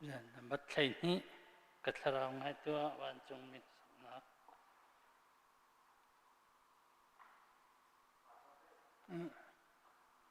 Zan na bat thlei hnih ka thlarau ngai tuah vancungmi sunghnak.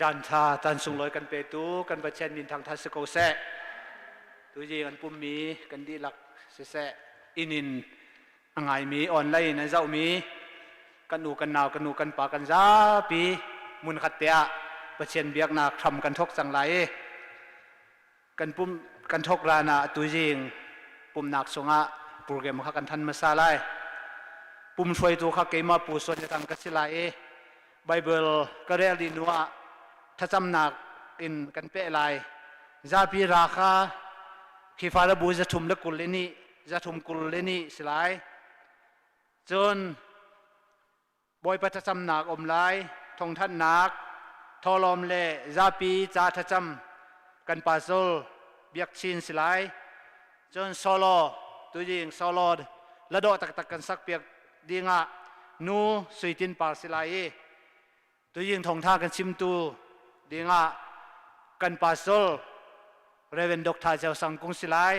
Caanṭha tan sunglawi kan petu kan Pathian min thangṭhat si ko seh. Tuji kan pummi kan dihlak siseh, inn in a ngaimi, online in an zohmi, kan nu, kan nau, kan nu, kan pa, kan zapi, hmunkhat te ah Pathian biaknak hram kan thawk cang lai i Kan pum kan thawk hlan ah tuizing pumhnak chungah program kha kan than hmasa lai. Pum hruaitu kha keimah Pu Suan Le Tang ka si lai i Baibal ka relh dih hnuah thlacamnak in kan peh lai. Zapi ra kha khi fale bu zathum le kul in i zathum kul in i si lai. Cun bawipa thlacamnak um lai thongthannak tholawm le zapi ca thlacam kan pasol biak chin si lai cun solo tu ding solo la do taktak kan sak piak ding ah nu suitin par si lai i tu ding thongtha kan chimtu ding ah kan pasol Reverend Dr. Cheu Sang Kung si lai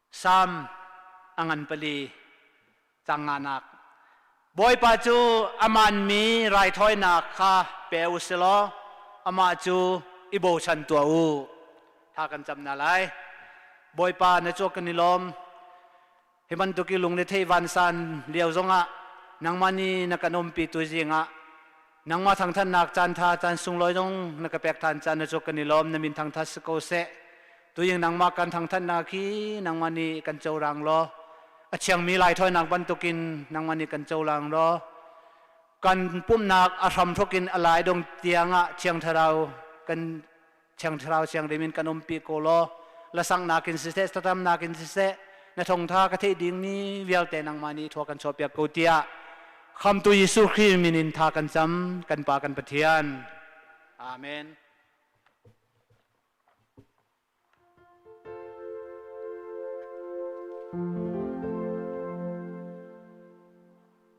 Salm a ngan pali, Tlang nganak. Bawipa cu a manmi raithawinak kha pe u silaw amah cu i bochan tuah u. Thla kan cam hna lai. Bawipa na cuak kan i lawm. Hi bantuk i lungrethei vansan lio zongah nangmah nih na kan umpi tu zingah Nangmah thangthatnak caantha caan sunglawi zong na ka pek than caan na cu kan i lawm na min thangthat si ko seh. Tuin nangmah kan thangthatnak hi nangmah nih kan corang law a thiangmi lai thawinak bantukin nangmah nih kan colang law kan pumhnak a hram thuk in a lai dong tiangah thiang thlarau kan thiang thlarau siang rim in kan um pi ko law la sang nakin siseh statam nakin siseh na thongtha ka theih ding ni vialte nangmah ni thua kan chaw piak ko tia khamtu Jesu Christ min in tha kan cham kan pa kan pathian amen Thank you.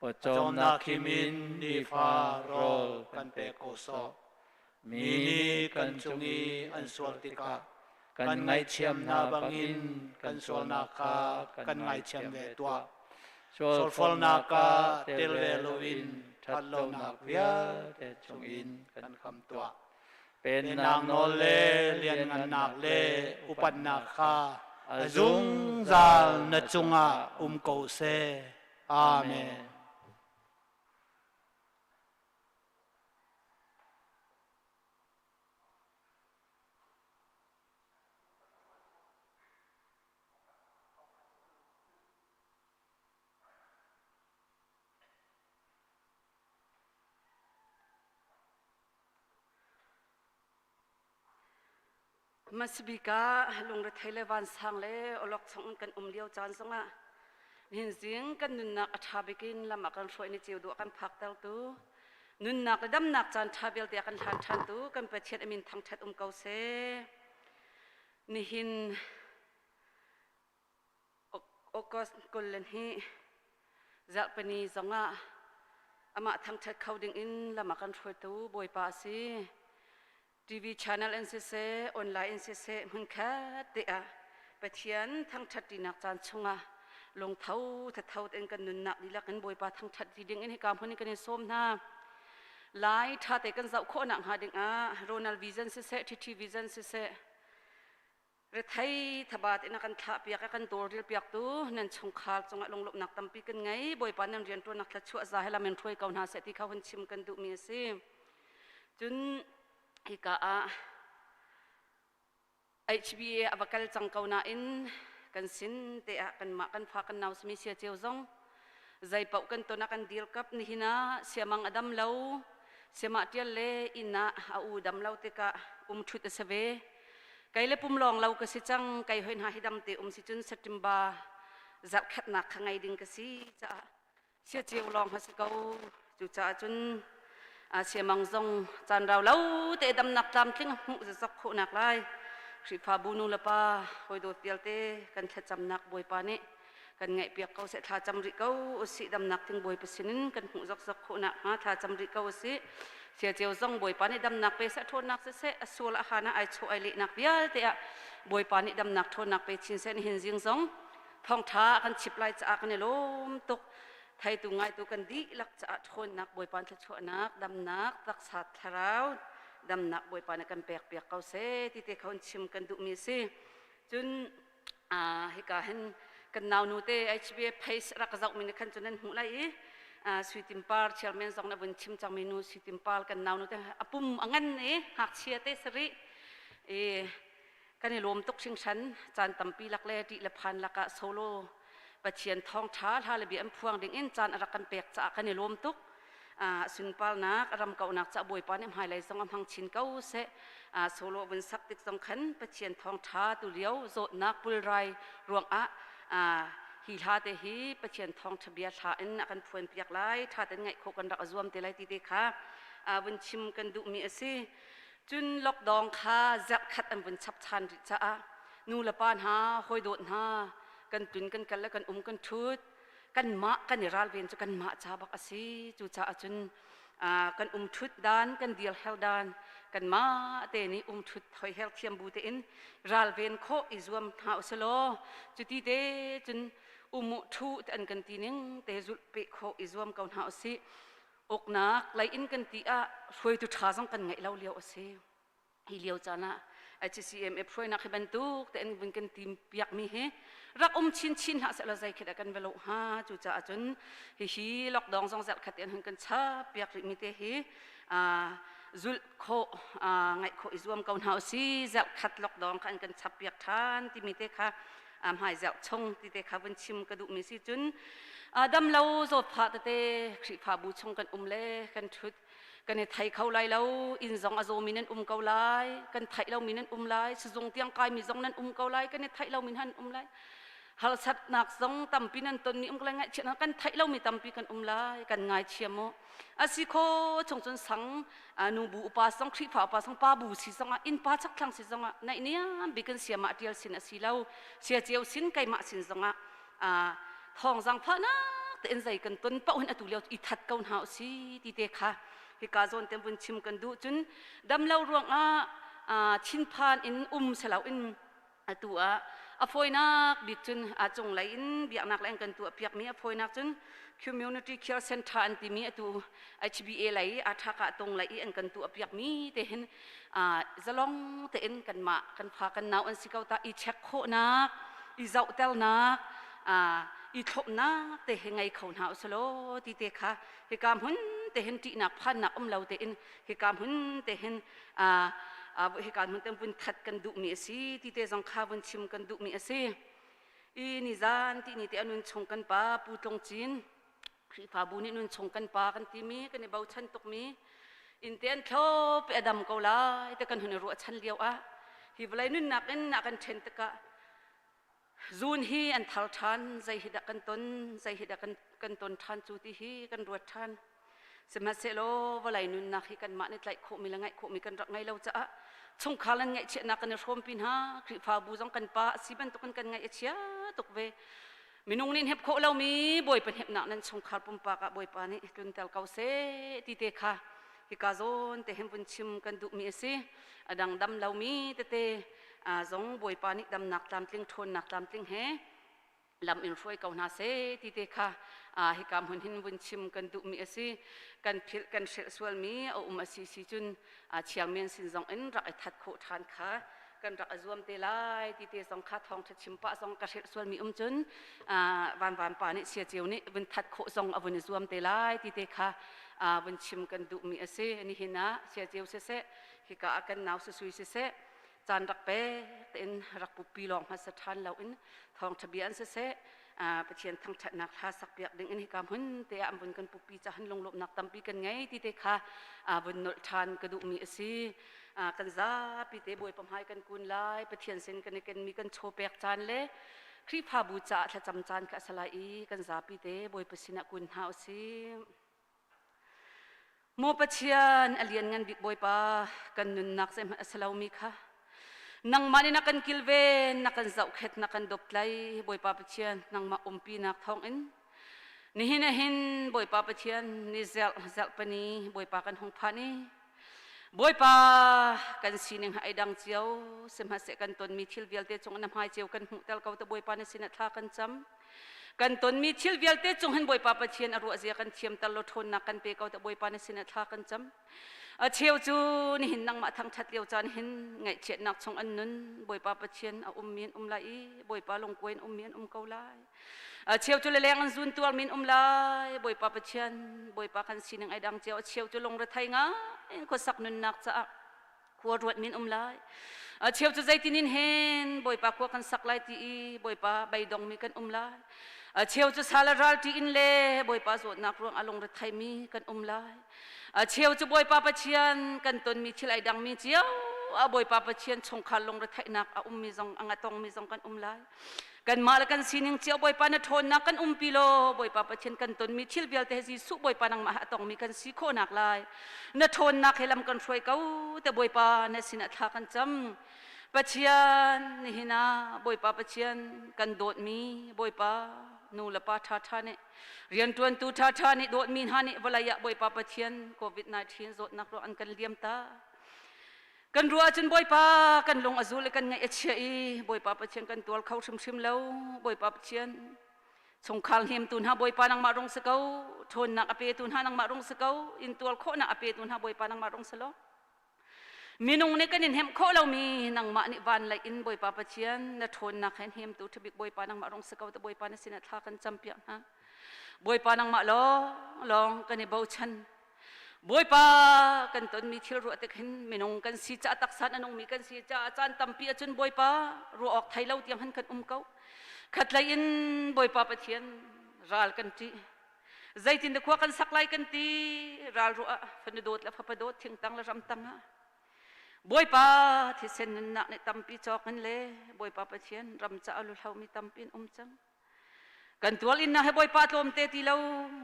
pawcawmnak kim in nifa rawl kan pek ko sawh mi nih kan cung i an sual tikah kan ngaithiam hna bangin kan sualnak kha kan ngaithiam ve tuah sualfolnak ka tel ve loin ṭhat lonak vialte chung in kan kham tuah Pennak nawl le lianngannak le upatnak kha a zungzal na cungah um ko seh. Amen. Masabika lungrethei le vansang le olok chung in kan um lio caan zongah nihin zing kan nunnak a ṭha bik in lam ah kan hruai ni ceu dua kan phakter tu nunnak le damnak caan ṭha vialte a kan hlan ṭhan tu kan Pathian a min thangṭhat um ko seh nihin August kul le hnih Zarhpini zong ah amah thangṭhat kho ding in lam a kan hruaitu Bawipa a si. TV channel in siseh, online in siseh, hmunkhat te ah Pathian thangṭhattinak caan chungah lungtho thatho tein kan nunnak dihlak in Bawipa thangṭhat ti ding in hika hmun in kan in sawm hna. Lai ṭha te kan zoh khawh nak hnga ding ah Ronald Vision siseh, TT Vision siseh, Rethei thabaat in a kan thlahpiak i kan dawrdilpiaktu nan chungkhar cungah lunglawmhnak tampi kan ngei. Bawipa nan rianṭuannak thlachuah za he lam in hruai ko hna seh ti kha hun chim kan duhmi a si. Cun hika ah HBA a va kal cang ko nain kan sin te ah kanmah kan fa kan nau sami Sia Ceu zong Zeipaoh kan ton ah kan dirkap, nihin ah siamang a dam lo, siamahṭial le inn ah a u dam lo tikah umṭhut a si ve. Kei le pum lawng lo ka si cang, kei hoi hna hi damte um si cun September zarhkhatnak kha ngei ding ka si caah sia ceu lawng a si ko. Cucaah cun siamang zong caan rau lo te damnak tlamtling hmuh zazak khawhnak lai Khrihfabu nu le pa hawidawt vialte kan thlacamnak Bawipa nih kan ngaihpiak ko seh thla cam rih ko usih damnak thing bawi pasinin kan hmuh zokzok khawhnak hnga thla cam rih ko usih sia ceo zong Bawipa nih damnak pe seh ṭhawnnak seh a sual a hana ai chawh ai lehnak vialte ah Bawipa nih damnak ṭhawnnak pe chin seh nihin zing zong thawngṭha kan chip lai caah kan i lawm tuk Thaitu ngaitu kan dihlak caah ṭhawnnak Bawipa thluachuahnak damnak taksa thlarau damnak Bawipa na kan pekpiak ko seh ti te kha hun chim kan duhmi a si. Cun hika hin kan naunu te HBA Pace rak zohmi nih khan cun an hmuh lai i Suitin Par chairman zong na vun chim cangmi nu Suitin Par kan naunu te a pum a ngan i ngakchia te sarih i kan i lawm tuk hringhran. Caan tampi lak le ṭih le phan lak ah solo Pathian thawngṭha hla le bia an phuang dingin caan a rak kan pek caah kan i lawm tuk. Sunparnak a ram kauhnak caah Bawipa nih hmailei zong a hmang chin ko seh. Solo vun sak tik zong khan Pathian thawngṭha tulio zawtnak pulrai ruangah hi hla te hi Pathian thawngṭha bia hla in a kan phuanpiak lai, ṭha tein ngaih khawh kan rak a zuam te lai ti te kha vun chim kan duhmi a si. Cun lockdown kha zarhkhat an vun chap ṭhan rih caah nulepa hna, hawidawt hna, kan tun, kan kal le kan um kan ṭhut. Kanmah kan i ralven cu kanmah ca bak a si. Cucaah cun kan um ṭhut dan, kan dir her dan, kanmah te nih um ṭhut hoiher thiam bu tein ralven khawh i zuam hna u selaw cuti te cun um u ṭhu an kan ti ning te zulh peh khawh i zuam ko hna u sih. Uknak lei in kan ti ah hruaitu ṭha zong kan ngeih lo lio a si. Hi lio caan ah HCCMF hruainak hi bantuk tein vun kan tim piakmi hi rak um chinchin hlah sehlaw zeikhet ah kan va loh hnga. Cucaah cun hihi lockdown zong zelkhat tein hun kan chap piak rihmi te hi zulh khawh, ngaih khawh i zuam ko hna u si. Zelkhat lockdown kha an kan chap piak ṭhan timi te kha a hmaiziak chung tite kha vun chim ka duhmi si cun damlo zawtphah tete khrihfabu chung kan um le kan ṭhut kan i thei kho lai lo inn zong a zawmi nan um ko lai kan theih lomi nan um lai sizung tiang kaimi zong nan um ko lai kan i theih lomi nan um lai harsatnak zong tampi nan ton ni um ko lai ngaihchiat kan theih lomi tampi kan um lai kan ngaichia mu asi kho chung cun sang nu bu upa song khrifa upa song pa bu si zong ah innpa chakthlang si zong ah naih niam bik in siamah tial sin a si lo sia ceu sin keimah sin zong ah thong zang phahnak te in zei kan ton pa hun atu leo i that ko hna si ti te kha hika zon te bun chim kan du cun damlo ruang ah thinphan in um selo in Atu ah a fawinak bik cun a cunglei in biaknak le an kan tuahpiakmi a fawinak cun Community Care Centre an timi atu HBA lei Aṭhaka Tung lei i an kan tuahpiakmi te hin zalong tein kanmah kan fa kan nau an si ko tah i check khawhnak, i zohtelnak, i thlawpnak te hi ngei kho hna usih law ti te kha hika hmun te hin ṭihnak phannak um lo tein hika hmun te hin hika hmun te vun that kan duhmi a si ti te zong kha vun chim kan duhmi a si i nizan ti ni te a nun chung kan pa pu tlung cin khrifabu nih nun chung kan pa kan timi kan i bochan tukmi in te an thlo pe adam ko lai te kan hun i ruah chan lio ah hi vlai nunnak in na kan ṭhen tikah Zun hi an thar ṭhan, zei hi dah kan ton, zei hi dah kan, kan ton ṭhan cu ti hi kan ruat ṭhan. Sihmanhsehlaw vawlei nunnak hi kanmah nih tlaih khawhmi le ngaih khawhmi kan rak ngei lo caah chungkhar in ngaihchiatnak kan i hrawmpi hna. Khrihfabu zong kan pa a si bantukin kan ngaih a chia tuk ve. Minung nih hep khawh lomi Bawipa hnepnak nan chungkhar pumpak ah Bawipa nih tlunter ko seh ti te kha hika zawn te hin vun chim kan duhmi a si. A dang dam lomi tete zong Bawipa nih damnak tlamtling, ṭhawnnak tlamtling he lam in hruai ko hna seh ti te kha hika hmun hin vun chim kan duhmi a si. Kan philh kan hrilh sualmi a um a si si cun chiang men sin zong in rak i that khawh ṭhan kha kan rak a zuam te lai ti te zong kha thawngtha chim pah zong ka hrilh sualmi um cun Van Van pa nih Sia Ceu nih vun that khawh zong a vun i zuam te lai ti te kha vun chim kan duhmi a si nihin ah Sia Ceu siseh hika ah kan nau susui siseh caan rak pe tein rak pupi lawng hmasa ṭhan lo in thawngṭha bia an siseh Pathian thangṭhatnak hla sakpiak ding in hika hmun te ah vun kan pupi cahan lunglawmhnak tampi kan ngei ti te kha vun nolh ṭhan ka duhmi a si. Kan zapi te Bawipa hmai kan kun lai, Pathian sin kan i kenmi kan chaw pek caan le Khrihfabu caah thlacam caan kha a si lai i kan zapi te Bawipa sinah kun hna u sih. Maw Pathian, a lianngan bik Bawipa, kan nunnak zeihmanh a si lomi kha nangmah nih na kan kilven, na kan zohkhet, na kan doptlai. Bawipa Pathian, nangmah umpinak thawngin nihin a hin Bawipa Pathian ni zelh zelhpani Bawipa kan hung phani Bawipa kan sining ha ei dang cio sihmahseh kan tonmi thil vialte cung na hmai cio kan hmuh tel ko te Bawipa na sinah thla kan cam Kan tonmi thil vialte cung hin Bawipa Pathian a ruahzia kan thiamter law ṭhawnnak kan pe ko tiah Bawipa na sinah thla kan cam. A cheu cu nihin nangmah thangṭhat lio caan hin ngaihchiatnak chung an nun Bawipa Pathian a ummi an um lai i Bawipa lungkuai in ummi an um ko lai. A cheu cu leleng an zun tuarmi an um lai Bawipa Pathian Bawipa kan sining ai dang cio a cheu cu lungrethei ngai in khuasak nunnak caah khua ruat min um lai a cheu cu zeitinin hen bawipa khua kan sak lai ti i bawipa beidong mi kan um lai a cheu cu sala ralti in le bawipa zawtnak ruang a lungre thai mi kan um lai a cheu cu bawipa pathian kan ton mi thil ai dang mi cio a bawipa pathian chungkhar lungre theihnak a um mi zong a ngatong mi zong kan um lai Kanmah le kan sining cio Bawipa na ṭhawnnak kan umpi law Bawipa Pathian kan tonmi thil vialte he Jesuh Bawipa nangmah he a tongmi kan si khawhnak lai na ṭhawnnak he lam kan hruai ko te Bawipa na sinah thla kan cam. Pathian nihin ah Bawipa Pathian kan dawtmi Bawipa nu le pa ṭhaṭha nih rianṭuantu ṭhaṭha nih dawtmi hna nih vawlei ah Bawipa Pathian COVID-19 zawtnak ruang an kan liam ta. Kan ruah ahcun Bawipa kan lung a zul i kan ngaih a chia i Bawipa Pathian kan tual kho hrimhrim lo Bawipa Pathian chungkhar hlimtu hna Bawipa nangmah rung si ko ṭhawnnak a petu hna nangmah rung si ko intual khawhnak a petu hna Bawipa nangmah rung si law minung nih kan in hemh khawh lomi nangmah nih van lei in Bawipa Pathian na ṭhawnnak he hnemtu ṭhabik Bawipa nangmah rung si ko ta Bawipa na sinah thla kan campiak hna Bawipa nangmah lawng lawng kan i bochan Bawipa kan tonmi thil ruah tik hin minung kan si caah taksa in a nungmi kan si caah caan tampi ahcun Bawipa ruah awk thei lo tiang han kan um ko. Khatlei in Bawipa Pathian ral kan ṭih. Zeitin da khua kan sak lai kan ti ral ruah ah fanu dawt le fapa dawt thingtang le ramtang ah Bawipa thisen nunnak nih tampi cawk in le Bawipa Pathian ram caah luhlomi tampi in um cang. kan tual inna he bawipa tlawmte ti lo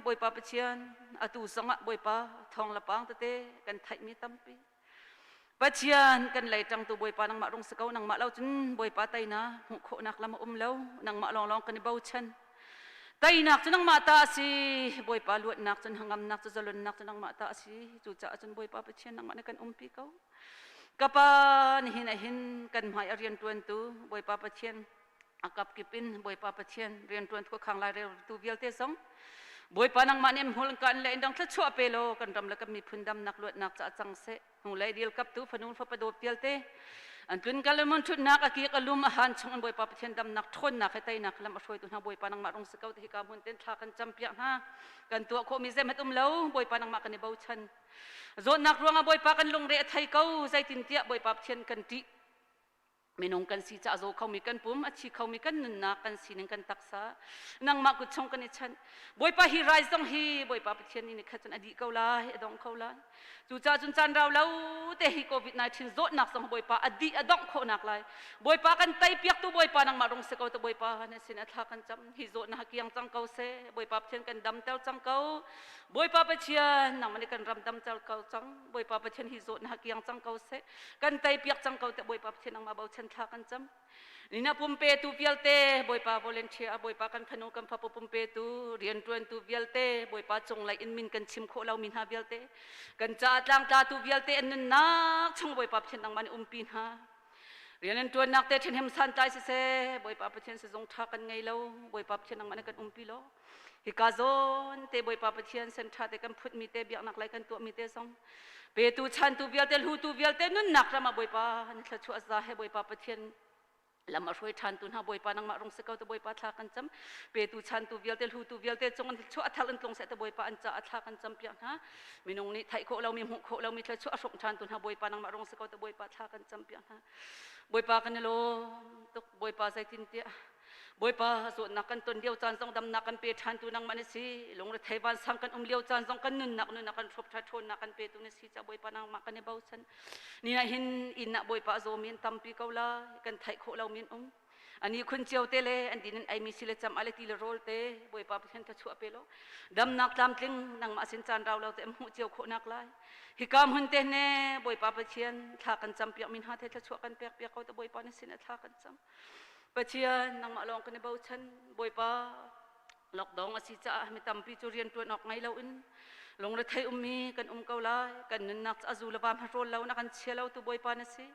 bawipa pathian atu zong ah bawipa thong le paang tete kan theihmi tampi pathian kan lei ṭangtu bawipa nangmah rung si ko nangmah lo cun bawipa teinak hmuh khawhnak lam a um lo nangmah lawnglawng kan i bochan teinak cu nangmah ta a si bawipa luatnak cu hangamnak cu zalonnak cu nangmah ta a si cucaah cun bawipa pathian nangmah nih kan umpi ko ka pa nihin ahin kan hmai a rianṭuantu bawipa pathian a kapkip in Bawipa Pathian rianṭuan thua khang lai tu vialte zong Bawipa nangmah nih hmul kan le in dang thluachuah pe law kan ram le kan miphun damnak luatnak ca cang seh hnu le dil kap tu fanu fa padawp pialte an tlun kal mun ṭhutnak a kik a lum a han chung in Bawipa Pathian damnak ṭhawnnak he teinak lam a hruaitu hna Bawipa nangmah rung si ko ti hi ka mun ten thla kan cam piak hna kan tuah khawh mi zemat um lo Bawipa nangmah kan i bochan zawtnak ruangah Bawipa kan lungre a thei ko zeitintiah Bawipa Pathian kan ṭih Minung kan si ca zaw khomi kan pum, a thi khomi kan nunnak kan sining kan taksa, nangmah kut chung kan i chanh. Bawipa hi rai zong hi Bawipa Pathian nih khat cun a dih ko lai, a dongh ko lai. Cucaah cun caan rau lo te hi COVID-19 zawtnak zong Bawipa a dih a dongh khawhnak lai. Bawipa kan teipiaktu Bawipa nangmah rung si ko tu Bawipa na sin a thla kan cam. Hi zawtnak kiang cang ko seh. Bawipa Pathian kan damter cang ko. Bawipa Pathian nangmah nih kan ram damter ko cang. Bawipa Pathian hi zawt na kiang cang ko seh kan tei piak cang ko te Bawipa Pathian nangmah bochan thla kan cam nina pumpetu vialte Bawipa volunteer a Bawipa kan fanu kan fapu pumpetu riantuantu vialte Bawipa cunglei in min kan chim khawh lo mi hna vialte kan ca tlang tlatu vialte an nunnak chung Bawipa Pathian nangmah nih umpi hna rian tuan nak te thin hem san tlai si se Bawipa Pathian si zong tha kan ngei lo Bawipa Pathian nangmah ne kan umpi lo hika zawn te bawipa pathian senṭha te kan phutmi te biaknak lei kan tuahmi te zong petu chantu vialte hlutu vialte nunnak ram ah bawipa an thluachuah za he bawipa pathian lam a hruai ṭhantu hna bawipa nangmah rung se ko te bawipa thla kan cam petu chantu vialte hlutu vialte cung an thluachuah a thar in tlung se te bawipa an ca a thla kan cam piak hna minung nih theih khawh lomi hmuh khawh lomi thluachuah a hruk ṭhantu hna bawipa nangmah rung se ko te bawipa thla kan cam piak hna bawipa kan i lawm tuk bawipa zeitintiah Bawipa zawtnak kan ton lio caan zong damnak kan pe ṭhantu nangmah na si. Lungrethei vansang kan um lio caan zong kan nunnak nunnak kan hrup ṭha ṭhawnnak kan petu na si. Ca Bawipa nangmah kan i bochan. Ni ah hin inn ah Bawipa a zawmi an tampi ko lai. Kan theih khawh lomi an um. Ani khun cio te le an din an aimi sile cam ale ti le rawl te Bawipa Pathian ka chuah pe law damnak tlamtling nangmah sin caan rau lo te am hmuh cio khawhnak lai. Hi kam hun te ne Bawipa Pathian thla kan cam piak min ha te thla chuah kan pek piak ko te Bawipa na sin a thla kan cam. Pathian nangmah lawng kan i bochan bawipa lockdown a si caah mi tampi cu rianṭuan awk ngei loin lungrethei ummi kan um ko lai kan nunnak a zu le va hmahrawl lo na kan chia lo tu bawipa na si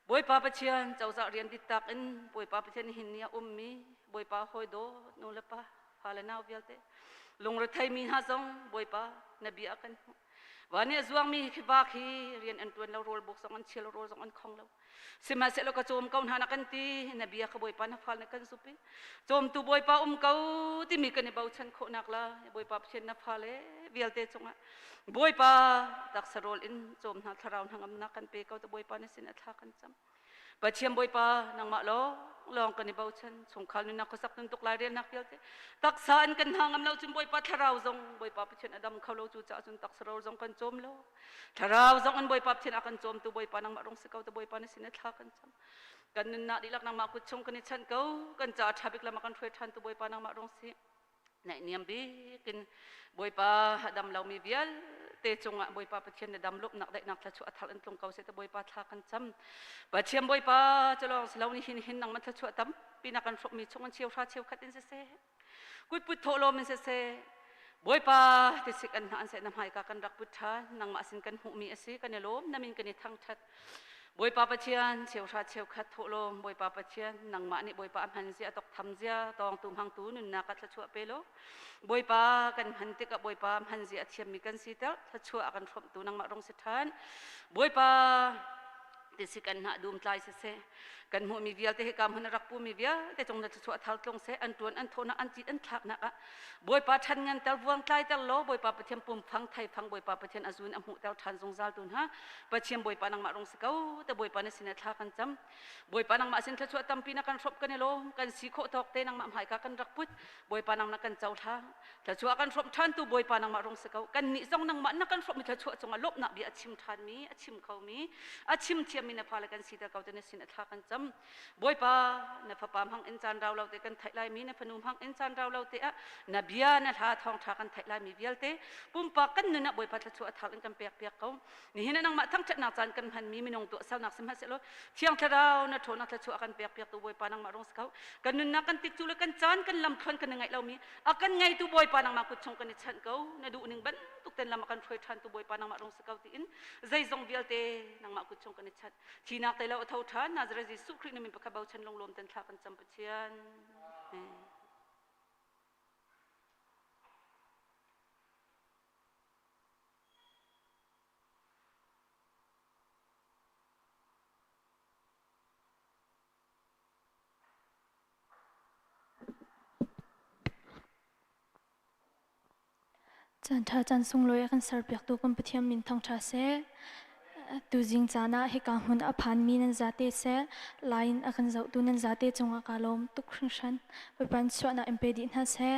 bawipa pathian cozah rian dit tak in bawipa pathian hin ni a ummi bawipa hawi do nu le pa fa le nau vialte lungrethei mi hna zong bawipa na bia kan hmuh van i a zuangmi khi ba khi rian an tuan lo rawl buk zong an chial rawl zong an khong lo Sihmahsehlaw ka cawm ko hna na kan ti na bia ka bawipa na fal na kan supi cawmtu bawipa um ko timi kan i bochan khawhnak la bawipa pathian na fale vialte cungah bawipa taksa rawl in cawm hna thlarau hnangam na kan pe ko tu bawipa na sin atha kan cham pathian bawipa nangmah lawng lawng kan i bochan chungkhar nunnak khuasak nuntuk lai relnak vialte taksa an kan hna ngam lo cun bawipa thlarau zong bawipa pathian adam kho lo cu caah cun taksa rawl zong kan cawm lo Thlarau zong an Bawipa Pathian a kan cawmtu Bawipa nangmah rung si ko tu Bawipa na sin thla kan cam. Kan nun nak dihlak nangmah kut chung kan i chanh ko kan ca tha bik lama kan hruai than tu Bawipa nangmah rung si. Naih niam bik in Bawipa hadam lomi vialte cungah Bawipa Pathian na dam lup nak daihnak thla chu athar in tlung ko se tu Bawipa thla kan cam. Pathian Bawipa culong silo ni hin hin nangmah thla chu atam pina kan hruk mi chung an chiu hra chiu khat in si se. Kut put thawh lawm in siseh, Bawipa te sik an hna an seh na hmai ka kan rak put ṭhan nangmah sin kan hmuhmi a si kan i lawm namin kan i thangṭhat Bawipa Pathian cheu hra cheu khat thawh lawm Bawipa Pathian nangmah nih Bawipa a hman zia thok tham zia tawngtu hmangtu nunnak ka thlachuah pe law Bawipa kan hman tikah Bawipa hman zia a thiammi kan si ter thlachuah a kan hrawmtu nangmah rong si ṭhan Bawipa ti si kan hna dum tlai se se kan hmu mi vialte he kam hana rak pu mi vialte chung na chu thar tlong se an tuan an thona an chit an thlak nak a boipa than ngan tel vuang tlai tel lo boipa pathian pum phang thai phang boipa pathian azun a mu tel than zungzal tun ha pathian boipa nang ma rong se ko te boipa na sina thla kan cham boipa nang ma sin thla chu tampi na kan hrop kan lo kan si kho thok te nang ma mai ka kan rak put boipa nang na kan chau thla Thluachuah kan hrawmh ṭhantu Bawipa nangmah rung si ko. Kannih zong nangmah na kan hrawmh i thluachuah cungah lawmhnak bia a chim ṭhanmi, a chim khomi, a chim thiammi na fale kan siter ko ti na sin a thla kan cam. Bawipa, na fapa hmangin caan rau lo te kan theih laimi, na fanu hmangin caan rau lo te ah na bia, na hla thawngṭha kan theih laimi vialte, pumpak kan nun ah Bawipa thluachuah a thar in kan pekpiak ko. Nihin ah nangmah thangṭhatnak caan kan hmanmi minung tuahsernak sihmanhsehlaw Thiang Thlarau na ṭhaw na thluachuah a kan pekpiaktu Bawipa nangmah rung si ko. Kan nunnak kan tik cu le kan caan kan lamthluan kan i ngaih lomi a kan ngeitu Bawipa nangmah kut chung kan i chanh ko. Na duhning bantuk ten lam a kan hruai ṭhantu Bawipa nangmah rung si ko tiin zeizong vialte nangmah kut chung kan i chanh. Thihnak tei lo a tho ṭhan. Nazareth Jesuh Khrih nih min pakhat bochan lunglawm ten thla kan cam Pathian. Amen. Caanṭha caan sunglawi a kan serpiaktu kan Pathian min thangṭha seh. Tuzing caan ah hika hmun a phanmi nan zate seh, lai in a kan zohtu nan zate cungah kaa lawm tuk hringhran. Bawipa in chuahnak in pe dih hna seh.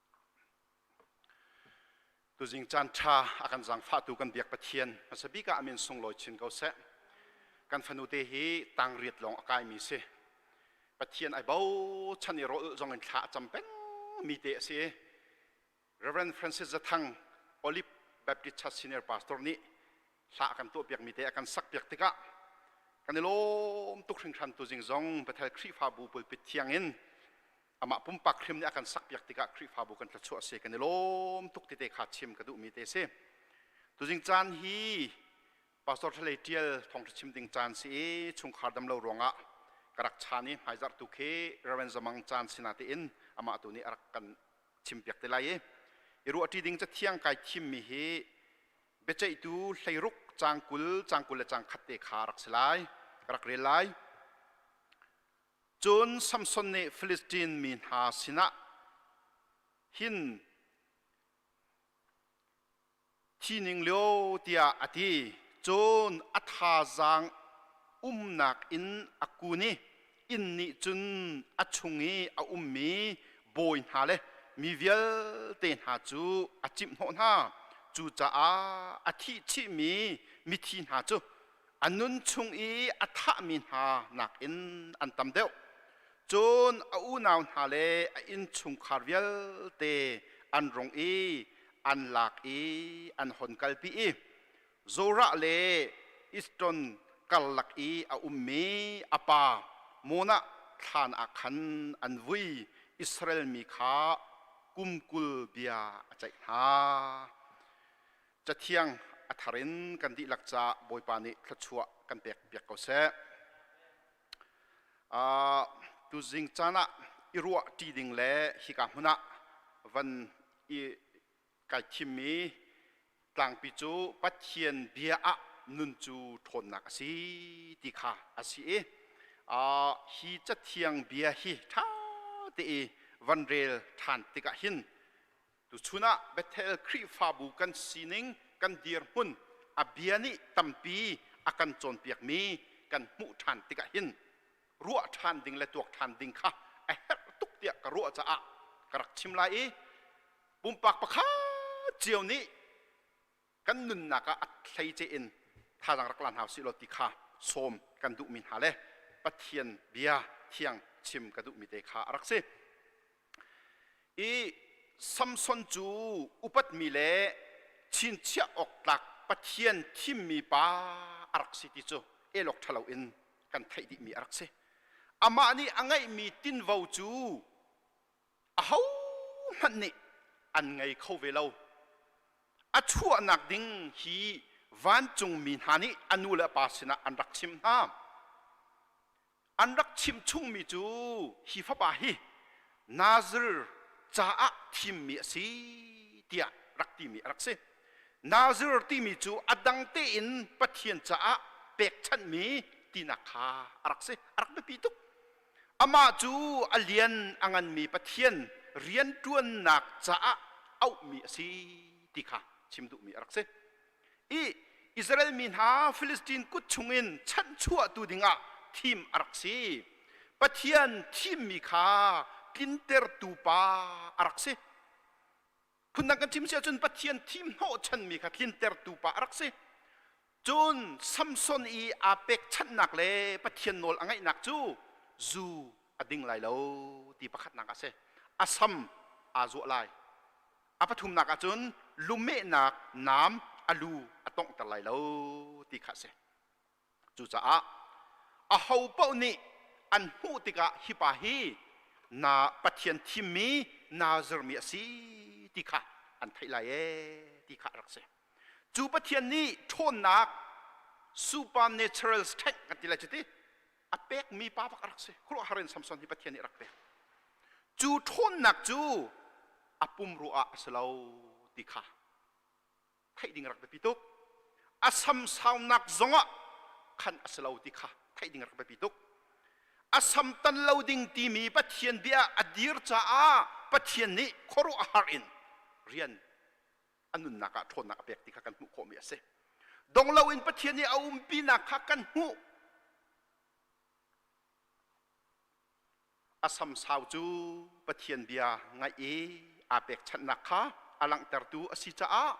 tuzing caan ṭha a kan zaangfahtu kan biak Pathian hmasa bik ah amin sunglawi chin ko seh kan fanute hi tang riat lawng a kaimi si Pathian ai bochan i rawl zong in thla a cam peng mi te a si Reverend Francis Zathang Olive Baptist Church Senior Pastor nih hla a kan tuahpiak mi te a kan sakpiak tikah kan i lawm tuk hringhran tuzing zong Bethel Khrihfabu pulpit thiang in amah pumpak hrim nih a kan sakpiak tikah Khrihfabu kan thluachuah a si kan i lawm tuk tete kha chim ka duhmi te si. Tuzing caan hi Pastor Thalei Ṭial thawngṭha chim ding caan si i chungkhar damlo ruangah ka rak chan i hmaizarhtu khi Reverend Zamang caan si na tein amah tu nih a rak kan chimpiak te lai i i ruahṭi ding cathiang kai thimmi hi biaceihtu hleiruk cang kul cang kul le cang khat te kha rak si lai ka rak rel lai Cun Samson nih Filistin mi hna sinah hin thi ning lio tiah a ti. Cun a thazaang umnak in a kun i inn nih cun a chung i a ummi bawi hna le mi vialte hna cu a cimhhnawh hna. Cucaah a thih chihmi mithi hna cu a nun chung i a thahmi hna nakin an tam deuh. Cun a unau hna le a innchungkhar vialte an rung i an lak i an hon kalpi i Zorah le Iston karlak i a ummi a pa Monah thlan ah khan an vui, Israel mi kha kum kul bia a ceih hna. cathiang a thar in kan dihlak caah Bawipa nih thluachuah kan pek piak ko seh. Uh, tuzing caan ah i ruah ṭi ding le hika hmun ah van i kai thimmi tlangpi cu Pathian bia ah nun cu ṭhawnnak a si ti kha a si i uh, hi cathiang bia hi ṭha te i van rel ṭhan tikah hin Tuchun ah Bethel Khrihfabu kan sining, kan dirhmun, a bia nih tampi a kan cawnpiakmi kan hmuh ṭhan tikah hin ruah ṭhan ding le tuak ṭhan ding kha a herh tuk tiah ka ruah caah ka rak chim lai i pumpak pakhat cio nih kan nunnak ah a hleice in thazaang rak la hna sih law ti kha sawm kan duhmi hna le Pathian bia thiang chim ka duhmi te kha a rak si i Samson cu upatmi le chinchiah awk tlak Pathian thimmi pa a rak si ti cu elok ṭhalo in kan theih dihmi a rak si amah nih a ngeihmi tinvo cu ahohmanh nih an ngei kho ve lo a chuahnak ding hi vancungmi hna nih a nu le pa sinah an rak chim hna an rak chim chungmi cu hi fapa hi nazir caah thimmi a si tiah rak timi a rak si nazir timi cu a dang tein pathian caah pekchanhmi tinak kha a rak si a rak biapi tuk Amah cu a lian a nganmi Pathian rianṭuannak caah auhmi a si ti kha chim duhmi a rak si. I Israel mi hna Filistin kut chungin chanhchuahtu dingah thim a rak si. Pathian thimmi kha tlintertu pa a rak si. Phundang kan chim si ahcun Pathian thimhnawhchanmi kha tlintertu pa a rak si. Cun Samson i aa pekchanhnak le Pathian nawl a ngaihnak cu zu a ding lai lo ti pakhatnak a si. A sam aa zuah lai. A pathumnak ahcun lumehnak nam a lu a tonghter lai lo ti kha a si. Cucaah aho paoh nih an hmuh tikah hipa hi na Pathian thimmi naa zirmi a si ti kha an theih lai ee ti kha a rak si. Cu Pathian nih ṭhawnnak supernatural strength kan ti lai cu ti a pekmi pa bak a rak si. Khuaruahhar in Samson hi Pathian nih a rak pek. Cu ṭhawnnak cu a pumrua ah a si lo ti kha theih ding rak biapi tuk. A samsaumnak zongah khan a si lo ti kha theih ding rak biapi tuk. A samtan lo ding timi Pathian bia a dir caah Pathian nih khuaruahhar in rian a nunnak ah ṭhawnnak a pek ti kha kan hmuh khawhmi a si. Dong loin Pathian nih a umpinak kha kan hmuh. A samsau cu Pathian bia ngaih i aa pekchanhnak kha a langhtertu a si caah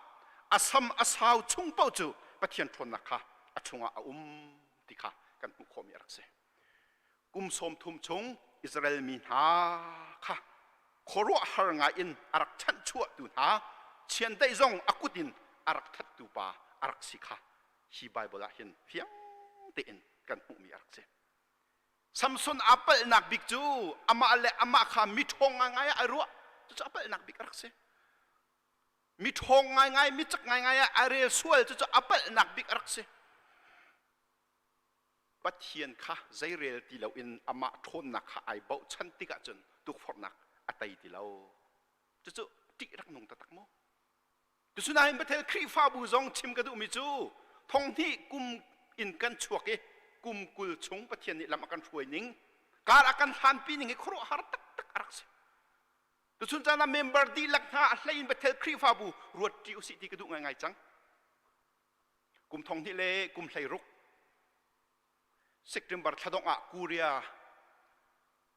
a sam a sau chung paoh cu Pathian ṭhawnnak kha a chungah a um ti kha kan hmuh khawhmi a rak si. Kum sawmthum chung Israel mi hna kha khuaruahhar ngaiin a rak chanhchuahtu hna chiandeih zong a kut in a rak thattu pa a rak si kha hi Baibal ah hin fiang tein kan hmuhmi a rak si. Samson aa palhnak bik cu amah le amah kha miṭhawng ngaingai ah ai ruah. Cucu a palhnak bik a rak si. Miṭhawng ngaingai, micak ngaingai ah ai rel sual. Cucu a palhnak bik a rak si. Pathian kha zei rel ti loin amah ṭhawnnak kha ai bochan tikah cun tukforhnak a tei ti lo. Cucu ṭih rak nung taktak mu. Cusunain Bethel Khrihfabu zong chim ka duhmi cu thonghnih kum in kan chuak i kum kul chung Pathian nih lam a kan hruai ning kar a kan hlanpi ning hi khuaruahhar taktak a rak si. Tuchun caan ah member dihlak hna a hlei in Bethel Khrihfabu ruatṭi usih ti ka duh ngaingai cang. Kum thonghnih le kum hlei ruk September thla dongh ah Korea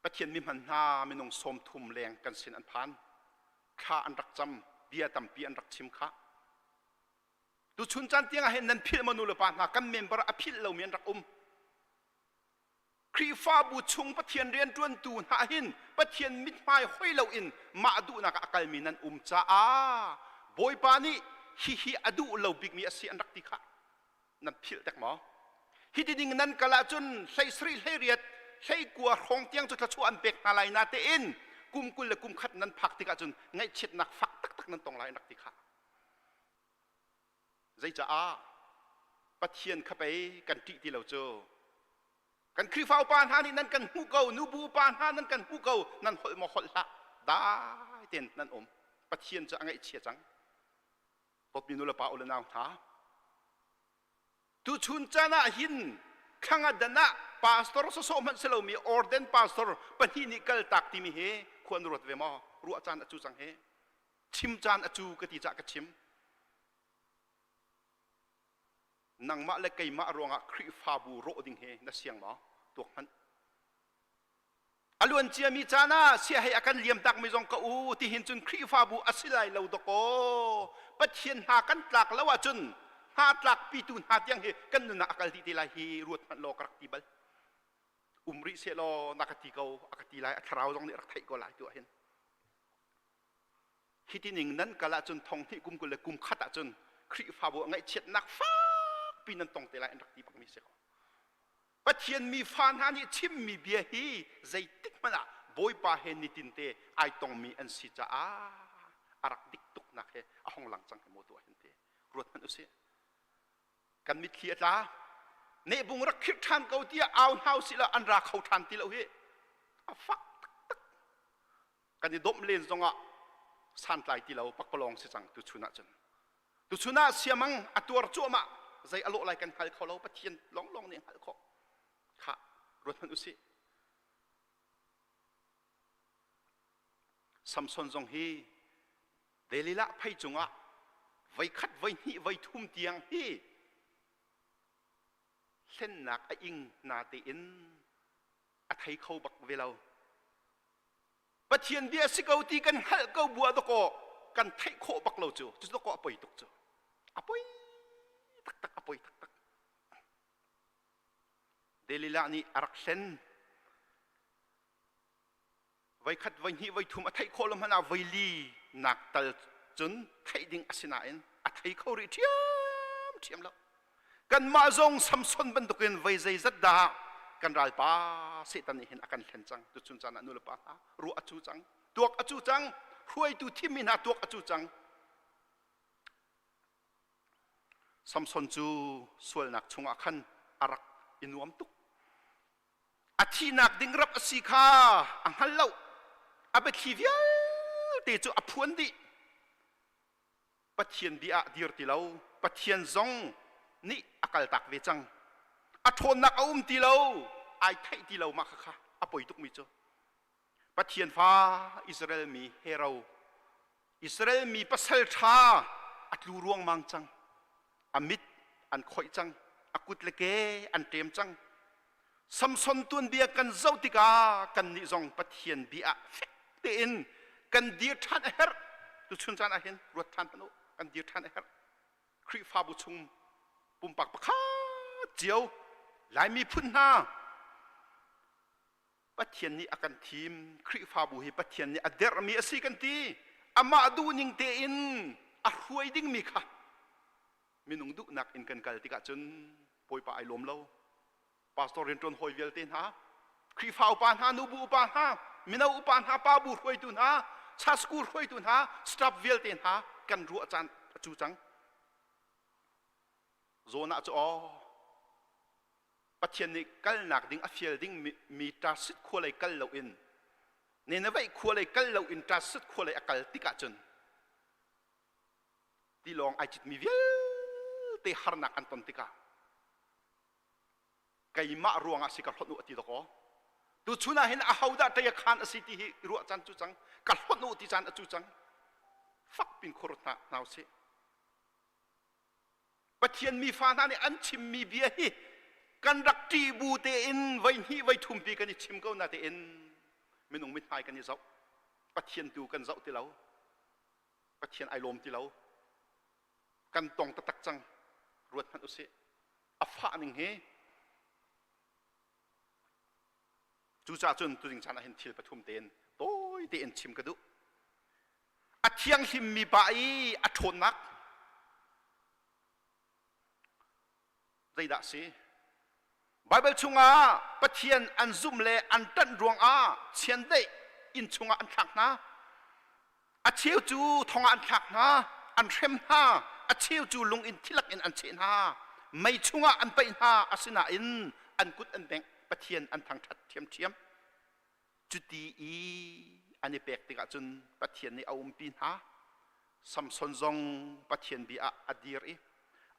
Pathian mihman hna minung sawmthum leng kan sin an phan. Thla an rak cam, bia tampi an rak chim khah. Tuchun caan tiang ah hin nan philh maw nu le pa hna kan member a philh lomi an rak um. Khrihfabu chung Pathian rianṭuantu hna hin Pathian mithmai hoi loin mah duhnak ah a kalmi nan um caah Bawipa nih hihi a duh lo bikmi a si an rak ti khah. nan philh dek maw? Hi ti ding nan kal ahcun hleisarih hleiriat hleikua hrawng tiang cu thluachuah an pek hna lai na tein kum kul le kum khat nan phak tikah cun ngaihchiatnak fak taktak nan tong lai an rak ti kha zeicaah pathian kha pei kan ṭih ti lo cu kan khrihfa upa hna nih nan kan hmuh ko nubu upa hna nan kan hmuh ko nan holh maw holh hlah dai tein nan um pathian cu a ngaihchia cang Popi nulepa ule nau hna, tuchun can ah hin thlangadan ah pastor sawsawh hmanh si lomi orden pastor pahnih nih kal tak timi hi khua na ruat ve maw ruah caan a cu cang hi chim caan a cu ka ti cah ka chim nangmah le keimah ruangah khrihfabu rawh ding hi na siang maw tuak hmanh A luanciami caan ah siahei a kan liamtakmi zong ka u tihin cun Khrihfabu a si lai lo dawkaw Pathian hna kan tlak lo ahcun hna tlakpitu hna tiang hi kan nunah a kal dih te lai hi ruat hmanh law ka rak ti bal um rih sehlaw na ka ti ko a ka ti lai a thlarau zong nih rak theih ko lai tu ahhin hi tining nan kal ahcun thonghnih kum kul le kum khat ahcun Khrihfabu a ngaihchiatnak fakpi nan tong te lai an rak ti bangmi si ko Pathian mi fa hna nih chimmi bia hi zeitik hmanh ah Bawipa he nitinte ai tongmi an si caah a rak dik tuknak he a hong lang cang hi maw tuah hin te ruathmanh usih kan mitthli a tla nehbung rak khirh ṭhan ko tiah au hna usih la an ra kho ṭhan ti lo hi a fak taktak kan i domh len zongah santlai ti lo pakpalawng si cang tu chun ah cun tu chun ah siamang a tuar cuahmah zei a lawh lai kan hngal kho lo pathian lawnglawng nih hngalh khawh kha ruat hmanh usih samson zong hi delilah phei cungah voi khat voi hnih voi thum tiang hi hlennak a ing na tein a thei kho bak ve lo pathian bia si ko ti kan hngalh ko bua dawkaw kan theih khawh bak lo cu cu dawkaw a poi tuk cu a poi taktak a poi taktak delilah nih a rak hlen voikhat voihnih voithum a theih khawh lo hmanh ah voili nak tal cun theih ding a si nain a thei kho rih ṭhiam ṭhiam lo kanmah zong samson bantukin voi zeizat dah kan ralpa setan nih hin a kan hlen cang tuchun caan ah nulepa hna ruah a cu cang tuak a cu cang hruaitu thimmi hna tuak a cu cang samson cu sualnak chungah khan a rak i nuam tuk a thihnak ding rap a si kha a hngal lo a biathli vialte cu a phuan dih pathian dih ah dir ti lo pathian zong nih a kaltak ve cang a ṭhawnnak a um ti lo ai theih ti lo mah khakha a poi tukmi cu Pathian fa Israel mi hero Israel mi pasal ṭha a tlu ruangmang cang a mit an khoih cang a kut le ke an ṭem cang Samson tuanbia kan zoh tikah kannih zong Pathian bia ah fek tein kan dir ṭhan a herh tuchun caan ah hin ruat ṭhan hmanh u kan dir ṭhan a herh Khrihfabu chung pumpak pakhat cio Lai miphun hna Pathian nih a kan thim. Khrihfabu hi Pathian nih a derhmi a si kan ti. Amah duhning tein a hruai dingmi kha minung duhnak in kan kal tikah cun bawipa ai lawm lo. Pastor rianṭuan hawi vialte hna, Khrihfa upa hna, nubu upa hna, mino upa hna, pabu hruaitu hna, cha school hruaitu hna, staff vialte hna kan ruah caan a cu cang. Jonah cu aw, Pathian nih kalnak ding a fial ding mi ṭasit khua lei kal loin Nineveh khua lei kal loin ṭasit khua lei a kal tik ahcun tilawng ai citmi vialte harnak an ton tikah keimah ruangah si ka hlonh u a ti dakaw tu chunah hin ahodah ṭei a khan a si ti hi i ruah can cu cang ka hlonh u ti can a cu cang fak pin khurut hna hna u sih Pathian mi fa hna nih an chimmi bia hi kan rak ṭih bu tein voi hnih voi thum pi kan i chim ko natein minung mithmai kan i zoh Pathian tu kan zoh ti lo Pathian ai lawm ti lo kan tong taktak cang ruat hmanh usih a fah ning hi cucaah cun tuding caan ah hin thil pathum tein tawi tein chim ka duh a thianghlimmi pa i a ṭhawnnak zeidah a si? Baibal chungah Pathian an zumh le an ṭanh ruangah chiandeih inn chungah an thlak hna. A cheu cu thongah an thlak hna, an hrem hna, a cheu cu lung in thilak in an cheh hna, mei chungah an paih hna, asinain an kut an bengh, Pathian an thangṭhat ṭhiamṭhiam. Cuti i an i pek tikah cun Pathian nih a umpi hna. Samson zong Pathian bia ah a dir i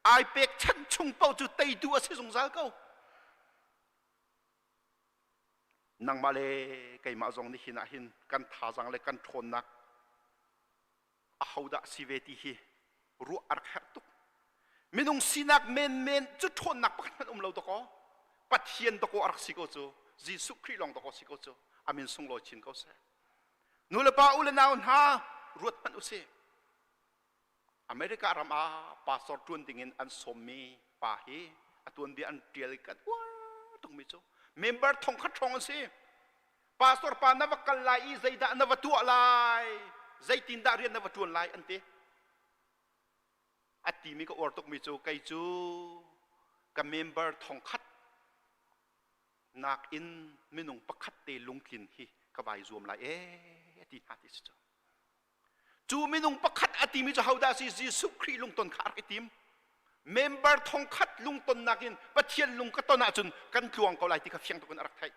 ai pekchanh chung paoh cu teitu a si zungzal ko. Nangmah le keimah zong nihin ah hin kan thazang le kan ṭhawnnak ahodah si ve ti hi ruah a rak herh tuk. Minung sinak menmen cu ṭhawnnak pakhat hmanh um lo dakaw, Pathian dakaw a rak si ko cu, Jesuh Khrih lawng dakaw si ko cu, amin sunglawi chin ko seh. Nulepa u le nau hna, ruat hmanh usih. America ram ah pastor ṭuan dingin an sawmmi pa hi a tuanbia an ṭial kan uar tukmi cu member thongkhat hrawng an si. pastor pa na va kal lai i zeidah na va tuah lai zeitindah rian na va ṭuan lai an ti a timi ka uar tukmi cu kei cu ka member thongkhat nakin minung pakhat te lungtlin hi ka vai zuam lai e ti hna ti si cu Cu minung pakhat a timi cu hodah si Jesuh Khrih lungton kha a rak i tim. Member thong khat lungtonnak in Pathian lung ka ton ahcun kan tluang ko lai ti kha fiang tuk in a rak theih.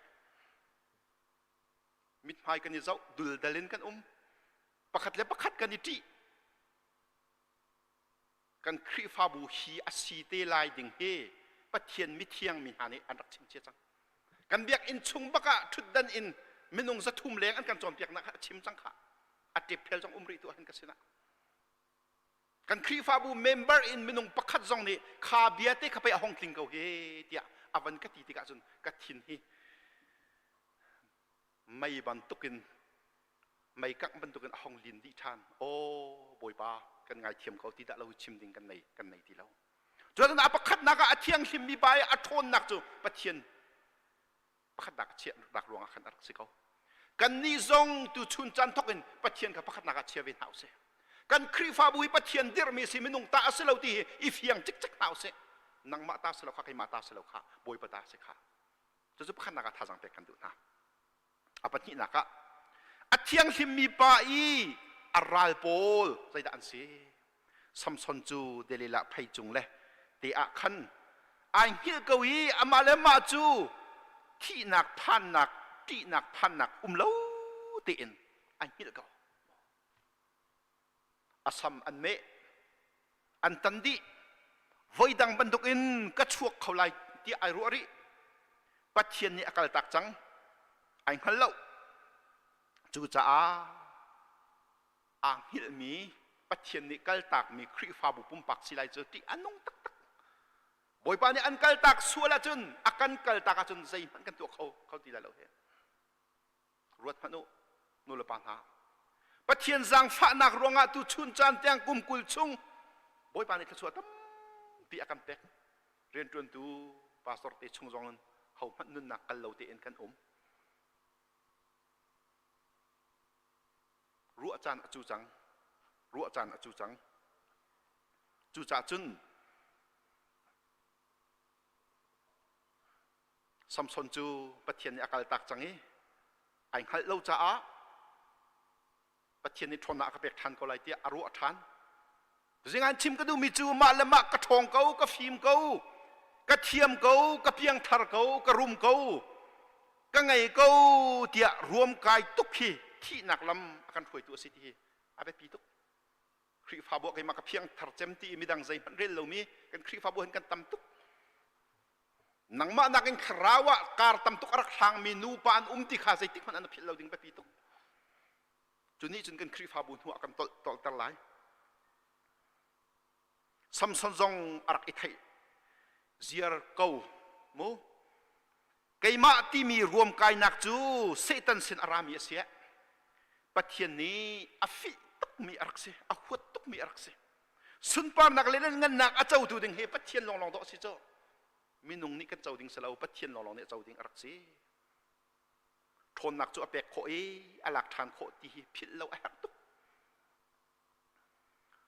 Mithmai kan i zoh, duldal in kan um. Pakhat le pakhat kan i ṭih. kan Khrihfabu hi a si te lai ding hi Pathian mithiang mi hna nih an rak chim cia cang. Kan biakinn chung bak ah ṭhutdan in minung zathum leng an kan cawnpiaknak kha a chim cang kha. A ṭepphel cang um rih tu ahhin ka sinah. Kan Khrihfabu member in minung pakhat zong nih kha bia te kha pei a hong tling ko he tiah a van ka ti tikah cun ka thin hi mei bantukin meikangh bantukin a hong lin dih ṭhan aw bawipa kan ngaithiam ko ti dah lo chim ding kan nei kan nei ti lo cun a pakhatnak ah a thianghlimmi pa i a ṭhawnnak cu pathian pakhatnak a chiahnak ruangah khan a rak si ko kannih zong tuchun caan thawkin pathian kha pakhatnak ah chia ve hna usih kan khrihfabu hi pathian dirhmi si minung ta a si lo ti hi i fiang cikcek hna usih nangmah ta si lo kha keimah ta si lo kha bawipa ta si kha cucu pakhatnak ah thazang pek kan duh hna a pahnihnak ah a thianghlimmi pa i a ral pawl zeidah an si samson cu delilah phei cung le te ah khan ai hngilh ko i amah le mah cu thihnak phannak ṭihnak phannak um lo tein ai hngilh ko a sam an meh an tan dih voidang bantuk in ka chuak kho lai tiah ai ruah rih pathian nih a kaltak cang ai hngal lo cucaah aa hngilhmi pathian nih kaltakmi khrihfabu pumpak si lai cu tih a nung taktak bawipa nih an kaltak sual ahcun a kan kaltak ahcun zeihmanh kan tuah kho kho ti lai lo he ruat hmanh u, nulepa hna. Pathian zaangfahnak ruangah tuchun caan tiang kum kul chung Bawipa nih thluachuah tampi a kan pek. Rianṭuantu pastor te chung zong in hohmanh nunnak kal lo tein kan um. Ruah caan a cu cang. Ruah caan a cu cang. Cucah cun Samson cu Pathian nih a kaltak cang i ai hngalh lo caah Pathian nih ṭhawnnak a ka pek ṭhan ko lai tiah a ruah ṭhan. Zingan chim ka duhmi cu mah le mah ka ṭhawng ko, ka fim ko, ka thiam ko, ka piangthar ko, ka rum ko, ka ngei ko tiah ruamkai tuk hi thihnak lam a kan hruaitu a si ti hi a biapi tuk. Khrihfabu ah keimah ka phiangthar cem ti i midang zeihmanh rel lomi kan Khrihfabu hin kan tam tuk. Nangmah nakin thlarau ah kar tam tuk a rak hrangmi nupa an um ti kha zeitik hmanh an philh lo ding biapi tuk. Cu nih cun kan Khrihfabu hnuah kan tolter lai. Samson zong a rak i theih. Ziar ko mu. Keimah timi ruamkainak cu Satan sin a rami a si. Pathian nih a fih tukmi a rak si, a huat tukmi a rak si. Sunparnak le ngannak a cotu ding hi Pathian lawnglawng dawh a si cu. Minung nih kan co ding si lo, Pathian lawnglawng nih a co ding a rak si. Ṭhawnnak cu a pek khawh i a lak ṭhan khawh ti hi philh lo a herh tuk.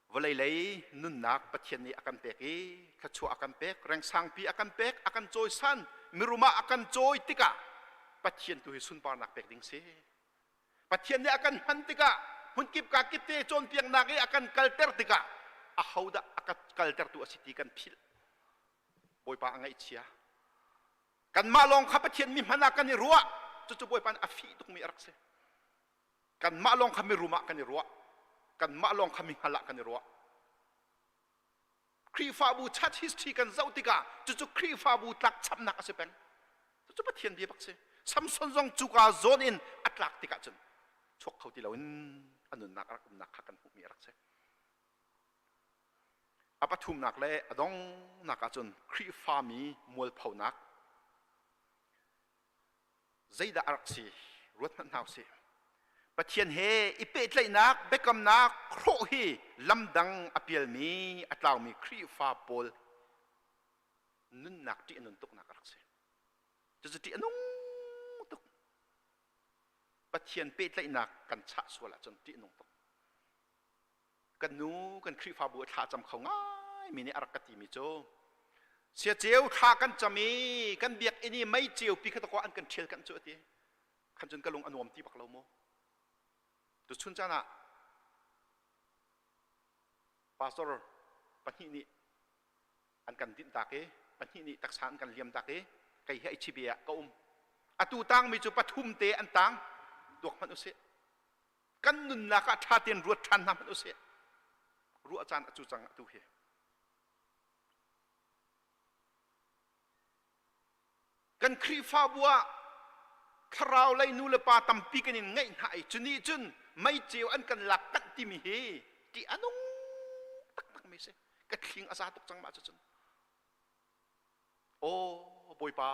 Vawlei lei nunnak Pathian nih a kan pek i thluachuah a kan pek, rengsangpi a kan pek, a kan cawisan, mirum ah a kan cawi tikah Pathian tu hi sunparnak pek ding si. Pathian nih a kan hman tikah hmunkip ka kip te cawnpiaknak i a kan kalter tikah a hodah a kan kaltertu a si ti kan philh. Bawipa a ngaihchia. Kanmah lawng kha Pathian mi hman ah kan i ruah. Cucu Bawipa nih a fih tukmi a rak si. kanmah lawng kha mirum ah kan i ruah kanmah lawng kha mihngal ah kan i ruah Khrihfabu church history kan zoh tikah cucu Khrihfabu tlakchamnak a si peng cucu Pathian bia bak si Samson zong cuka zawn in a tlak tikah cun chuak kho ti loin a nunnak a rak umnak kha kan hmuhmi a rak si a pathumnak le a dongnak ah cun Khrihfami mualphonak zeidah a rak si ruathmanh hna usih pathian he i pehtlaihnak biakamnak hrawh hi lamdang a pialmi a tlaumi khrihfa pawl nunnak ṭih a nun tuknak a rak si cucu ṭih a nung tuk pathian pehtlaihnak kan chah sual ahcun ṭih a nung tuk kan nu kan khrihfabu a thla cam kho ngaimi nih a rak ka timi cu sia ceu thla kan cam i kan biakinn i mei ceu pi kha takwa an kan ṭhial kan cu a ti khan cun ka lung a nuam ti bak lo mu tu chun caan ah pastor pahnih nih an kan dinh tak i pahnih nih taksa an kan liam tak i kei he ichibi ah ka um atu tangmi cu pathum te an tang duak hmanh usih kan nunnak ah ṭha tein ruat ṭhan hna hmanh usih ruah caan a cu cang tu hi kan khrihfabu ah thlarau lei nu le pa tampi kan in ngaih hna i cunih cun meicheu an kan lak tanh timi hi ṭih a nung taktak mi si ka thling a za tuk cang mah cucun aw bawipa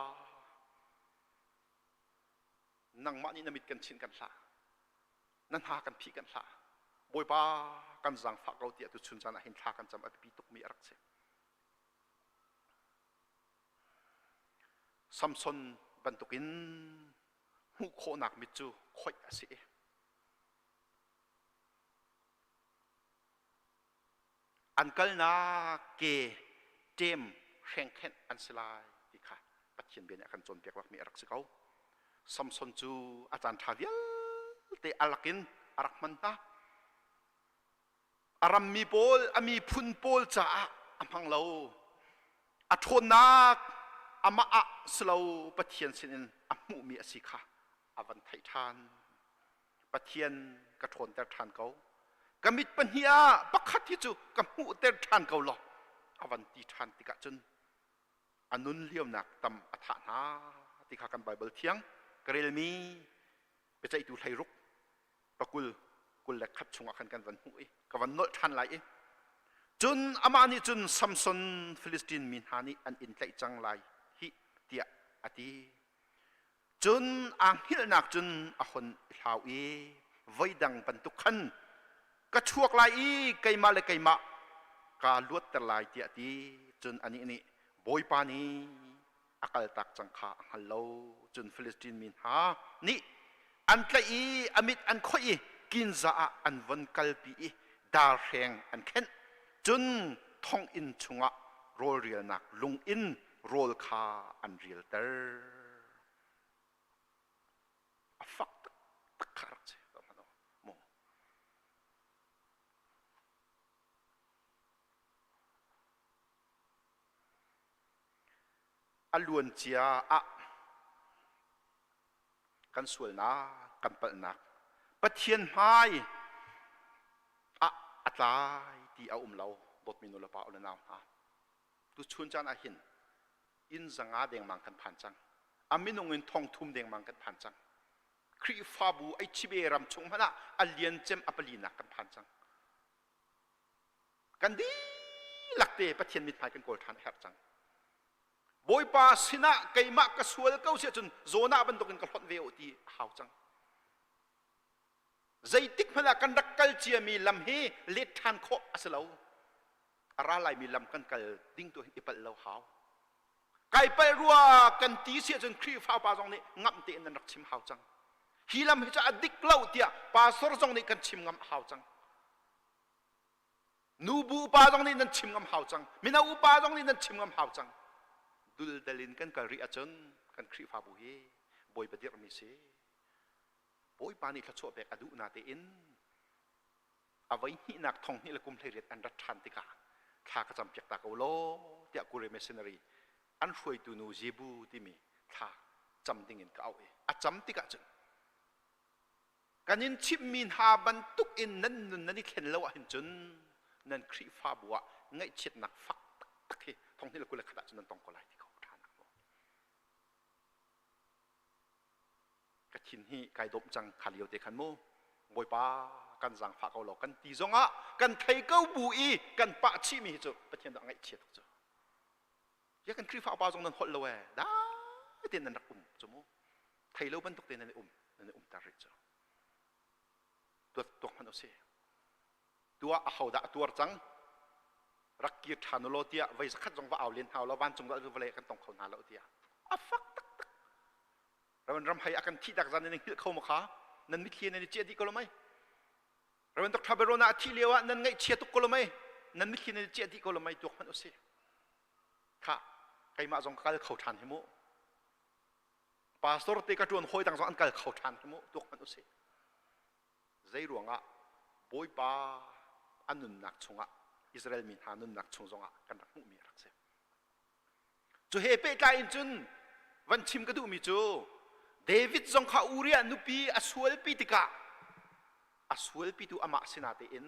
nangmah nih na mit kan chinh kan hlah na hna kan phih kan hlah bawipa kan zaangfah ko ti atu chun caan ah hin thla kan cam a biapi tukmi a rak si samson bantukin hmuh khawhnak mit cu khoih a si i an kalnak ke ṭem hrengkhenh an si lai ti kha Pathian bia nih a kan cawnpiak bakmi a rak si ko. Samson cu a caan ṭha vialte a lakin a rak hman hna. A rammi pawl, a miphun pawl caah a hmang lo. A ṭhawnnak amah ah si lo Pathian sinin a hmuhmi a si kha a van theih ṭhan. Pathian ka ṭhawnter ṭhan ko. Ka mit pahnih ah pakhat hi cu ka hmuhter ṭhan ko law a van ti ṭhan tikah cun a nun liamnak tam a thah hna ti kha kan Baibal thiang ka relmi biaceihtu hleiruk pakul kul le khat chungah khan kan van hmuh i ka van nolh ṭhan lai i cun amah nih cun Samson Filistin mi hna nih an in tlaih cang lai hih tiah a ti. cun aa hngilhnak cun a hun i hlau i voidang bantuk khan ka chuak lai i keimah le keimah kaa luatter lai tiah ti cun anih nih bawipa nih a kaltak cang kha a hngal lo cun Filistin mi hna nih an tlaih i a mit an khoih i kinza ah an von kalpi i darhreng an khenh cun thonginn chungah rawlrialnak lung in rawl kha an rialter. A fak taktak kha rak si. Mu. A luancia ah kan sualnak kan palhnak Pathian hmai ah a tlai ti a um lo dawtmi nu le pa u le nau hna Tuchun caan ahhin inn zanga dengmang kan phan cang. A minung in thongthum dengmang kan phan cang. Khrihfabu Aichibe ram chung hmanh ah a liancem a palinak kan phan cang. Kan dihlak te Pathian mithmai kan kawl ṭhan a herh cang. Bawipa sinah keimah ka sual ko siahcun zawn ah bantukin ka hlonh ve u ti a hau cang. zeitikhmanh ah kan rak kal ciami lam hi let ṭhan khawh a si lo a ra laimi lam kan kal ding tu i palh lo hau kai palh rua kan ti si ahcun Khrihfa pa zong nih ngamh tein nan rak chim hau cang hi lam hi cu a dik lo tiah pastor zong nih kan chim ngam hau cang nubu upa zong nih nan chim ngam hau cang mino upa zong nih nan chim ngam hau cang duldal in kan kal rih ahcun kan Khrihfabu hi bawi badirhmi si Bawipa nih thluachuah pek a duh na tein a voi hnihnak thong hnih le kum hleiriat an rat ṭhan tikah thla ka campiak ta ko law tiah Kure Missionary an hruaitu nu Zebu timi thla cam dingin ka auh i a cam tikah cun kan in chimhmi hna bantuk in nan nun nan i thlen lo ahhin cun nan Khrihfabu ah ngaihchiatnak fak taktak hi thong hnih le kul le khat ah cun nan tong ko lai ti ko ṭhan ka thin hi kai dawm cang kha lio te khan mu bawipa kan zang phah ko law kan ti zongah kan thei ko bu i kan pah chih mi cu pathian dah ngaihchia tuk cu ya kan khrihfa upa zong nan holh lo e dai ten nan rak um cu mu thei lo bantuk te nan um nan um tar rih cu tuat tuak hman usi tua a ho dah tuar cang rak kir ṭhan u law tiah voi zakhat zong va au len hau lo vancung dal vale kan tong kho hna lo tiah a fak Raven ram hei a kan thihtak zan nan hngilh kho ma kha nan mitthli nan i ciah dih ko lo mei Raven Dr. Berona a thih lio ah nan ngaihchia tuk ko lo mei nan mitthli nan i ciah dih ko lo mei tuak hmanh u si kha keimah zong ka kal kho ṭhan hi mu pastor te ka ṭuan hawi dang zong an kal kho ṭhan hi mu tuak hmanh u si zei ruangah bawipa a nunnak chungah Israel mi hna nunnak chung zongah kan rak hmuhmi a rak si Cu he pehtlai in cun van chim ka duhmi cu David zong kha Uriah nupi a sualpi tikah a sualpitu amah sinah tein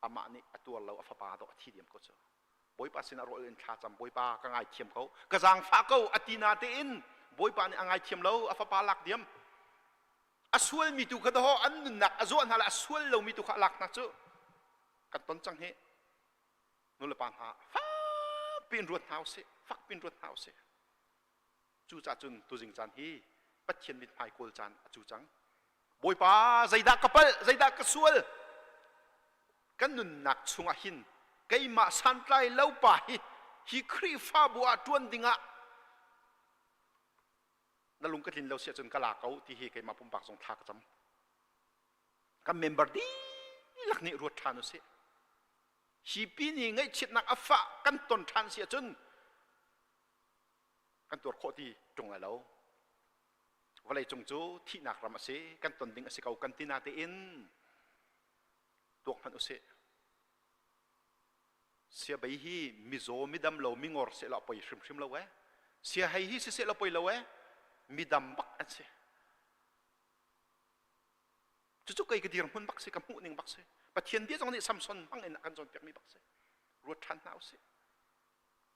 amah nih a tuar lo a fapa dawh a thi diam ko cu bawipa sinah rawl in thlacam bawipa ka ngaithiam ko ka zaangfah ko a ti na tein bawipa nih a ngaithiam lo a fapa lak diam a sualmi tu kha daw an nunnak a zuah hna le a sual lomi tu kha a lak hna cu kan ton cang hi nulepa hna fak piin ruat hna usih fak piin ruat hna usih cucaah cun tuzing caan hi pathian mit hmai kawl caan a cu cang bawipa zeidah ka palh zeidah ka sual kan nunnak chungah hin keimah santlai lo pa hi hi khrihfabu ah ṭuan dingah na lung ka tlin lo si ahcun ka la ko ti hi keimah pumpak zong thla ka cam kan member dihlak nih ruat ṭhan u sih hi pi nih ngaihchiatnak a fah kan ton ṭhan si ahcun kan tuar khawh ti ṭung lai lo vawleicung cu thihnak ram a si kan ton ding a si ko kan ti natein tuak hmanh usih sia bei hi mizaw midam lo mingor seh law poi hrimhrim lo e sia hei hi siseh law poi lo e midam bak an si Cucu kei ka dirhmun bak si, ka hmuhning bak si, Pathian bia zong nih Samson hmangin a kan cawnpiakmi bak si. Ruat ṭhan hna u sih.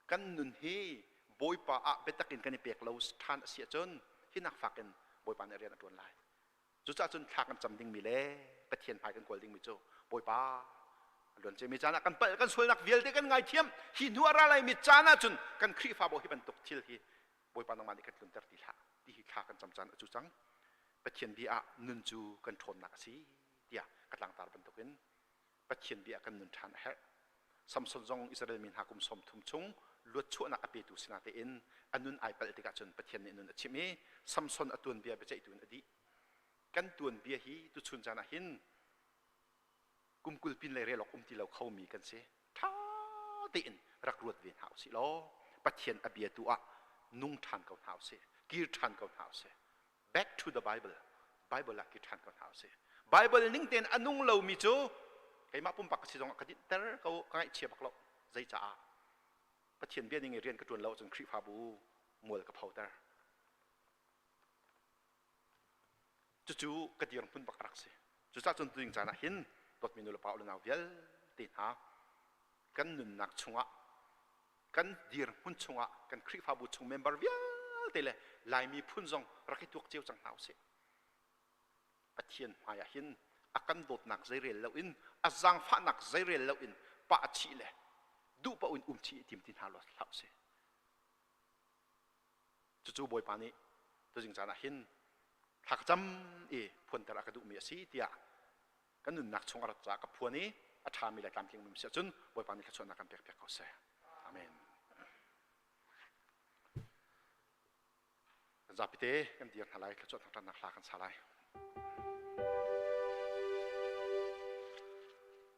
Kan nun hi Bawipa ah biatak in kan i pek lo ṭhan a si ahcun hinak fakin Bawipa nih rian a ṭuan lai. Cucaah cun thla kan cam dingmi le Pathian hmai kan kawl dingmi cu Bawipa a luan ciami caan ah kan palh, kan sualnak vialte kan ngaithiam. Hi hnu a ra laimi caan ahcun kan Khrihfabu hi bantuk thil hi Bawipa nangmah nih kan tlunter ti hlah ti hi thla kan cam caan a cu cang. Pathian bia ah nun cu kan ṭhawnnak a si tiah ka tlangtar bantukin Pathian bia ah kan nun ṭhan a herh. Samson zong Israel mi hna kum sawmthum chung luatchuahnak a petu sinah tein a nun ai palh tikah cun Pathian nih nun a chimh i Samson a tuanbia biaceihtu in a dih. Kan tuanbia hi tuchun caan ah hin kum kul pin lei rel awk um ti lo khomi kan si. Ṭha tein rak ruat ve hna usih law Pathian a bia tu ah nung ṭhan ko hna usih, kir ṭhan ko hna usih. Back to the Bible, Bible ah kir ṭhan ko hna usih. Bible ning tein a nung lomi cu keimah pumpak ka si zongah ka dinhter ko, ka ngaihchia bak lo. Zeicaah? Pathian bia ning i rian ka ṭuan lo ahcun Khrihfabu mual ka photer. Cucu ka dir phun bak rak si. Cucah cun tuding caan ah hin dawtmi nulepa unau vialte hna kan nunnak chungah kan dirhmun chungah kan Khrihfabu chung member vialte le Lai miphun zong rak i tuak cio cang hna usih. Pathian hmaiah hin a kan dawtnak zeirel loin a zaangfahnak zeirel loin pa a thih le duhpaoh in um thih i tim ti hna lo hlah usih. Cucu Bawipa nih tuzing caan ah hin thla ka cam i phuanter a ka duhmi a si tiah kan nunnak chung a rat caah ka phuan i a ṭhami le tlamtling um si ahcun Bawipa nih thluachuahnak kan pek piak ko seh. Amen. Kan zapite kan dir hna lai thluachuah thangṭhatnak hla kan sa lai.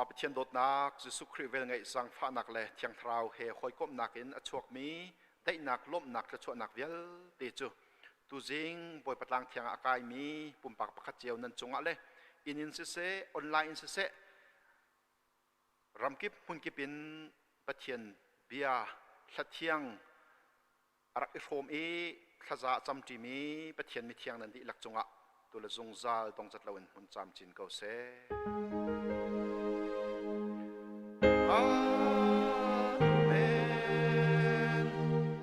Pa Pathian dawtnak Jesuh Khrih vel ngeih zangfahnak le Thiang Thlarau he hawikomhnak in a chuakmi daihnak lawmhnak thluachuahnak vialte cu tuzing Bawipa tlang thiang ah a kaimi pumpak pakhat cio nan cungah le inn in siseh online in siseh ramkip hmunkip in Pathian bia hlathiang a rak i hrawm i thlaza a camṭim i Pathian mithiang nan dihlak cungah tule zungzal dongcat loin hmun camcin ko seh. Amen.